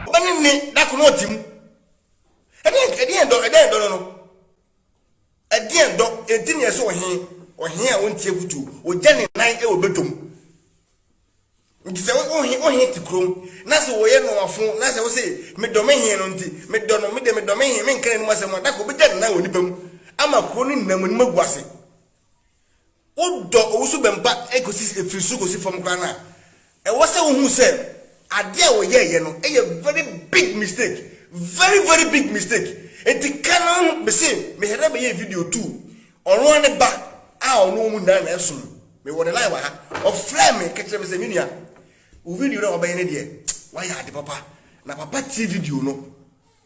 Ɔba no nni da ko na ɔte mu. Ɛdeɛn ɛdeɛn dɔ ɛdeɛn dɔ no no ɛdeɛn dɔ enti na yɛsɛ ɔhe ɔhe a ɔntie kutuo ɔgya ne nan wɔ bɛtɔm nti sɛ ɔhe ɔhe te kurom na sɛ ɔyɛ nɔwafo na sɛ ɔsɛ medɔ me he no nti medɔ no medɛ medɔ me he menka n'anim asɛm a dako ɔbɛgya ne nan wɔ nipa mu ama kuro no nyinaa mu anim agu ase Wodɔ owusu bɛmpa kosi firi soro kosi fam koraa no a, ɛwɔ sɛ wohu sɛ adeɛ a wɔyɛeɛ no yɛ very big mistake, very very big mistake. Enti ka no ho, mese Mehɛda bɛyɛɛ video too ɔno ara ne ba a ɔno wɔn nyinaa na ɛsom, mewɔ ne line wɔ ha, ɔfrɛɛ me ka kyerɛɛ me sɛ me nua, wo video no a wabɛyɛ no deɛ, wayɛ ade papa, na papa tie video no,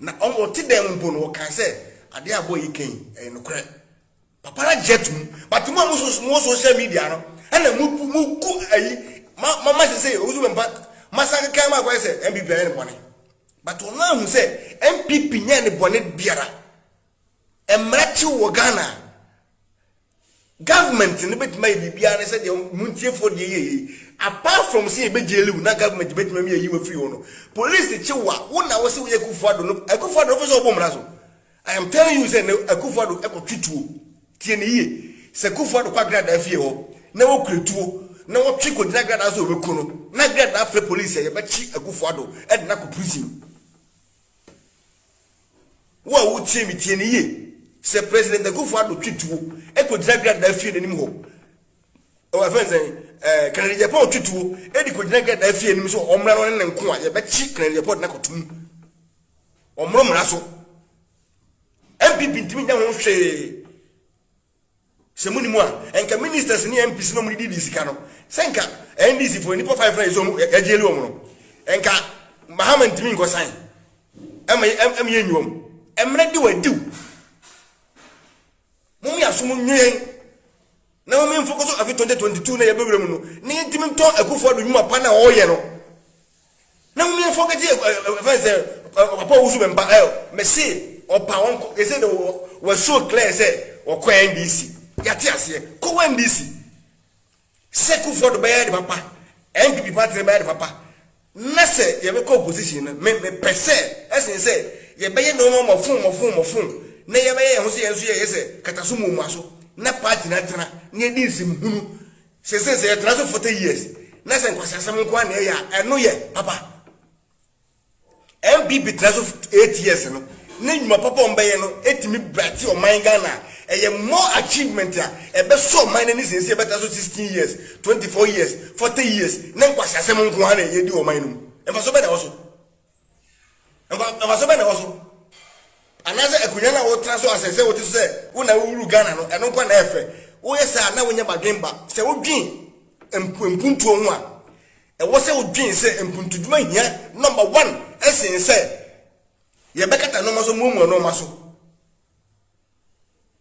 na ɔte dan mu mpo no, ɔkaa sɛ adeɛ a boy yi ka yi, ɛyɛ nokorɛ. Papara gye to mu but mo a mo so mo social media no ɛna mo bu mo gu ayi ma ma ma sese owusu bɛ mpa ma san keka ma akɔyɛ sɛ NPP ayɛ ne bɔne but ɔno ahu sɛ NPP nyɛ ne bɔne biara mmara kyew wɔ Ghana a government no bɛtumi ayɛ biribiara ne sɛ deɛ mo ntiefoɔ deɛ yɛ yei apart from sɛ yɛbɛgyeliw na government bɛtumi ami ayi wɔ firi hɔ no police kyew a wo na wo sɛ woyɛ Akufo-Addo no Akufo-Addo no fo sɛ ɔbɔ mmara so I am telling you sɛ na Akuffo Addo kɔtwe tuo, tie no yie, sɛ Kuffo Addo kɔ Agradaa fie hɔ na wɔkura tuo na wɔtwe kɔgyina Agradaa sɛ wɔbɛku no, na Agradaa frɛ police sɛ yɛbɛkye Akuffo Addo de no akɔ prison. Wo a wotie me tie no yie, sɛ President Akuffo Addo twe tuo kɔgyina Agradaa fie no anim hɔ, ɛwɔ ɛfɛn sɛn, ɛɛ, Kennedy Agyapong twe tuo de kɔgyina Agradaa fie anim sɛ ɔmmra no ne ne nko a, yɛbɛkye Kennedy Agyapong de no akɔto mu. Wɔmmoro mmara so. NPP ntumi nyɛ ho hwee. Sɛ mo nim a, nka ministers ne MPs na wɔn didi sika no. Sɛ nka NDC fo nipa five na ɛsɛ wɔn ɛgye ɛli wɔn no. Nka Mahama ntumi nkɔsan. Ɛma ɛma yɛ nyi wɔn. Ɛmmerɛ de wɔadiw. Mom yaso mo nwen na mom nfoko so afi 2022 na yɛbɛwura mu no na yɛntimi ntɔ akufo ado nwuma pa na ɔyɛ no na mom yɛmfɔ kɛti ɛfɛn sɛ papa owusu mɛmpa ɛ mɛse ɔpa wɔnkɔ ɛsɛ na wɔasuo clear sɛ wɔkɔ NDC yɛate aseɛ kɔ wɔ NDC Sɛ Kufuor do bɛyɛ ade papa, NPP party no bɛyɛ ade papa, na sɛ yɛbɛkɔ opposition no, me, mepɛ sɛ ɛsen sɛ yɛbɛyɛ nnoɔma mmɔfoo mmɔfoo mmɔfoo na yɛbɛyɛ yɛn ho sɛ yɛn nso yɛyɛ sɛ kataso muamuaso na party no atena na yɛadi nsɛm hunu sɛ sɛ sɛ yɛtena so 40 years na sɛ nkwaseasɛm nko ara na yɛyɛ a, ɛno yɛ papa? NPP tena so for eight years no ne nnwuma papa a wɔn bɛyɛ no tumi brate ɔman Ghana a ɛyɛ more achievement a ɛbɛsɔ ɔman no ani sen sɛ yɛbɛtra so sixteen years, twenty four years, forty years ne nkwaseasɛm nko ara na yɛdi wɔ ɔman no mu. Mfaso bɛn na ɛwɔ so? Mfa, mfaso bɛn na ɛwɔ so? Anaasɛ akonnwa no a wotra so asɛ sɛ wote so sɛ wo na wowuru Ghana no, ɛno nko ara na ɛyɛ fɛ? Woyɛ saa a na wonyɛ badwemba. Sɛ wodwen mp, mpuntuo ho a, Ɛwɔ sɛ wodwen sɛ mpuntudwuma hia nɔmba wan sen sɛ yɛbɛkata nnoɔma so amuamua nnoɔma so.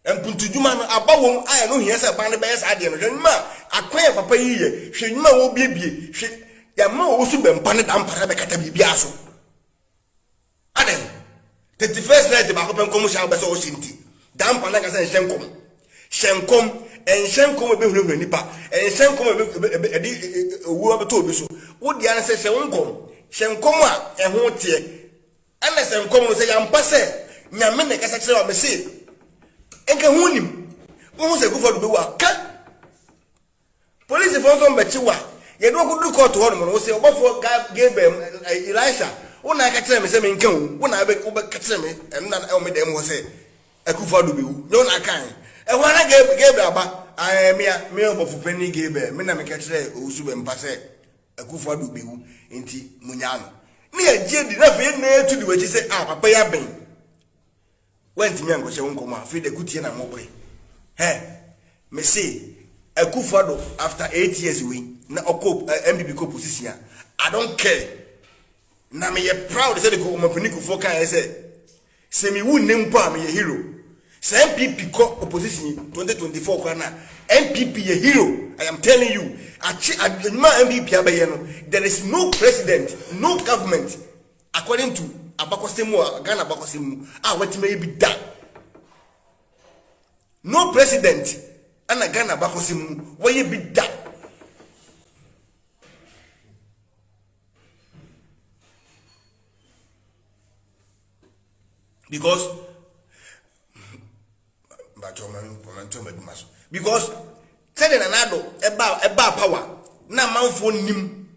Mpuntudwuma no, aba wom a ɛno hia sɛ ban no bɛyɛ saa adeɛ no. Hwɛ nnwuma a akwan a papa yi yɛ, hwɛ nnwuma a wɔrebiebie, hwɛ, yɛama wɔwɔ suban pa ne damparɛ bɛkata biribiara so. Adɛn? Tete first night baako pɛ nkɔm hyɛ a wobɛ sɛ ɔhyɛ nti. Daa mpa na ka sɛ nhyɛ nkɔm. Hyɛ nkɔm. Ɛnhyɛ nkɔm a ɛbɛhunahuna nnipa. Ɛnhyɛ nkɔm a ɛde owuo abɛtɔ obi so. Wo deɛ ara sɛ hyɛ wo nkɔm. Hyɛ nkɔm a ɛho teɛ. Ɛna sɛ nkɔm no sɛ yɛampa sɛ Nyame na ɛkasa kyerɛ wo a, mese nka ho nnim. Wohu sɛ Kufuor bɛwu a, ka. Polisifo nso mbɛkye wo a, yɛde wo akodur kɔɔto hɔ nom no, wose, Ɔbɔfo Gabriel, Elisha, wo na aka kyerɛɛ me sɛ menka wu, wo na wobɛka kyerɛɛ me nna wɔ me dan mu hɔ sɛ Akufo-Addo bewu. Nyɛ wo na akae? Ɛhɔ ara na Gabriel aba, Aane, me a, me ɔbɔfo panyin Gabriel, me na meka kyerɛɛ owusu bɛmpa sɛ Akufo-Addo bewu, enti munyaa no. Na yɛagye adi, na afei yɛn nyinaa yɛatu di w'akyi sɛ, Ah, papa yi aben. Woantumi ankɔhyɛ wo nkɔm a afei de akutie na mokɔe hɛ mese akufo ado after eight years wei na ɔkɔ npp kɔ position a I don't care na meyɛ proud sɛ de ɔmapani kufoɔ kaeɛ sɛ sɛ mewu nnɛ mpo a meyɛ hero sɛ npp kɔ opposition 2024 kora na npp yɛ hero I am telling you akye adwuma a npp abɛyɛ no there is no president no government According to abakɔsɛm mu a Ghana abakɔsɛm mu a watumi ayɛ bi da. No president ɛna Ghana abakɔsɛm mu wɔyɛ bi da. Because but ɔma ɔma ntɔ ɔma adwuma so because sɛdeɛ nana ado ɛba ɛba power na amanfoɔ nim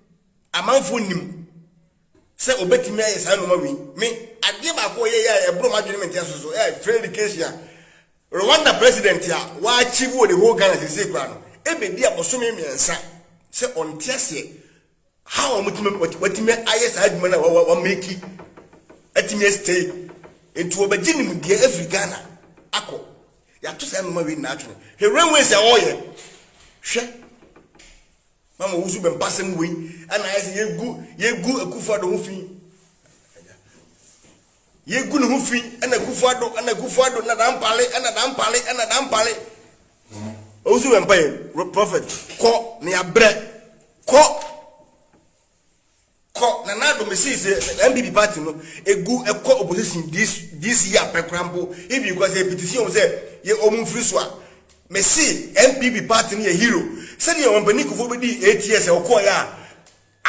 amanfoɔ nim sɛ ɔbɛtumi ayɛ saa nnwuma wei. Me, adeɛ baako a ɔyɛeɛ a ɛboro m'adwene me nteaso so, eh, Frederick Kesia, Rwanda president a wɔachieve wɔ the whole Ghana seesei koraa no, ɛbɛdi abosome mmiɛnsa sɛ ɔnte aseɛ how a wɔtumi, watumi ayɛ saa adwuma no a wameki atumi astay. Nti wɔbɛgye nimdeɛ afiri Ghana akɔ. Yɛato saa nnwuma wei nyinaa atwene. Hwɛ railways a wɔreyɛ, hwɛ Mama wosu bɛ mpasɛm wei ɛna ayɛ sɛ yegu yegu Akufo-Addo ho fi. Yegu ne ho fi ɛna Akufo-Addo ɛna Akufo-Addo na dampale ɛna dampale ɛna dampale. Wosu bɛ mpa yɛ prophet kɔ ne abrɛ kɔ. Kɔ na na do mesi se NPP party no egu kɔ opposition this this year pɛ koraa mpo if you kɔ se petition wɔn sɛ yɛ wɔn mfiri so a mesi NPP party no yɛ hero sɛdeɛ wɔn mpanin Kufuor bedii eight years a ɔkɔɔ yɛ a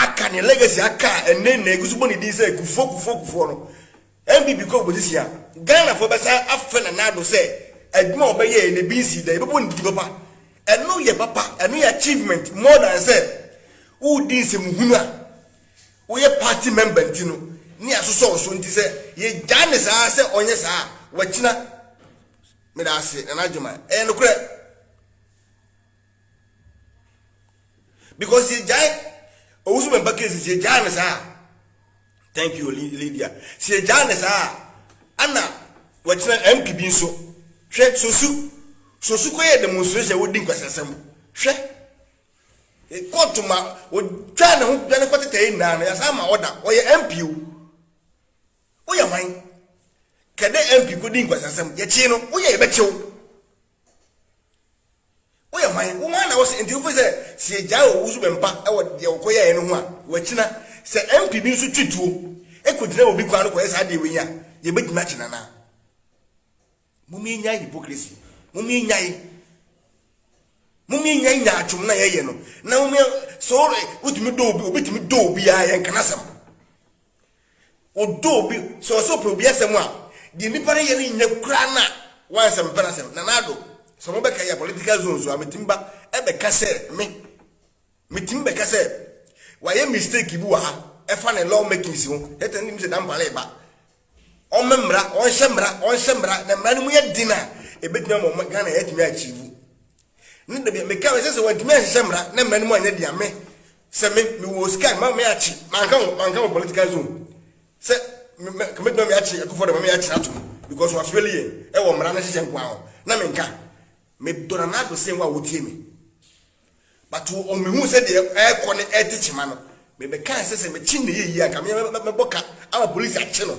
aka ne legacy aka a ɛnɛ na egu so bɔ ne din sɛ Kufuor Kufuor Kufuor no NPP kɔ opozisyin a, Ghanafo bɛsan afrɛ Nana Addo sɛ adwuma a ɔbɛyɛe no ebi nsii da, yɛbɛbɔ no titi papa. Ɛno yɛ papa, ɛno yɛ achievement more than sɛ woredi nsɛmuhunu a woyɛ party member nti no ne asosɔ wo so nti sɛ yɛgyae no saa ara sɛ ɔnyɛ saa a, wakyina. Meda ase Nana Adjoma, ɛyɛ nokorɛ. because yɛ gyae owusu bɛ ba case si yɛ gyae ne saa thank you lydia si yɛ gyae ne saa ana wɔkyerɛ mp bi nso hwɛ sosu sosu kɔ yɛ demonstration wodi nkwasiasɛm hwɛ kóòtù ma wɔtwa ne ho dwane kɔ tetɛ nyinaa no yasa ama ɔda ɔyɛ mp o woyɛ hwan kɛdɛ mp kodi nkwasiasɛm yɛkye no woyɛ yɛbɛkyew Woyɛ hwan? Wo hwan na wose enti wofiri sɛ sɛ yɛgyae owu so bɛmpa wɔ deɛ wokɔyɛɛ no ho a wakyina sɛ MP bi nso twe tuo kɔgyina obi kwan no kɔyɛ saa deɛ wei a yɛbɛtumi akye no anaa? Mom yɛnyae hypocrisy. Mom yɛnyae. Mom yɛnyae nyaatwom na yɛyɛ no. Na mom yɛ so wotumi dɔ obi obi tumi dɔ obi a yɛnka n'asɛm. Wodɔ obi, sɛ ɔsɛ ɔpɛ obi asɛm a, deɛ nipa no yɛ no nyɛ koraa na wansɛ mpɛ n'asɛm. Nana Addo, sɛ mo bɛka yɛ political zone so a, mɛtumi ba ɛbɛka sɛ me, mɛtumi bɛka sɛ wayɛ mistake bi wɔ ha ɛfa ne law makings ho, yɛtɛ no nim sɛ Dampare reba, ɔmmɛ mmara, ɔnhyɛ mmara, ɔnhyɛ mmara, na mmara no mu yɛ den a, ɛbɛtumi ama Ghana yɛatumi achieve. Ne da bi a meka no sɛ sɛ wantumi anhyehyɛ mmara na mmara no mu anyɛ dea me sɛ me mewɔ sika ma me akye manka ho manka ho political zone sɛ kɔmɛtuma me akye akufo de ma me akye ato mu because wafeli yɛn ɛwɔ mmara no hyehyɛ nkoa ho na menka medɔ na n'ado sen wo a wotie me but ɔmehu sɛ deɛ ɛrekɔ ne ɛte kyema no mebɛkaa sɛ sɛ mekye ne yɛyi anka mebɔ ka ama polisi akye no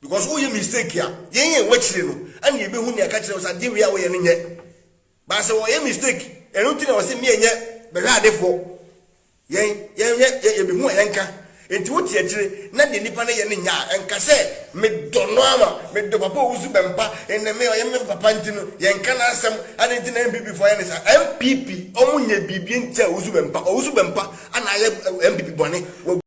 Because wo yɛ mistake a yɛn yɛn wakyire no ɛna yɛ bɛ hu nea ɛka kyerɛ wo sɛ adeɛ wei a wo yɛ no nyɛ but sɛ wɔyɛ mistake ɛno nti na wɔsɛ meɛ nyɛ bɛhwɛ adefoɔ yɛn yɛn hwɛ yɛ yɛ bɛ hu a yɛn ka nti wo te akyire na deɛ nipa no yɛ no nyɛ a nka sɛ me dɔ no ama me dɔ papa owu so bɛmpa ɛnɛ me ɔyɛ me papa nti no yɛn ka n'asɛm adeɛ nti na MPP foɔ yɛ ne sa MPP ɔmo nyɛ biribi nti a owu so bɛmpa owu so bɛmpa ana ayɛ MPP bɔne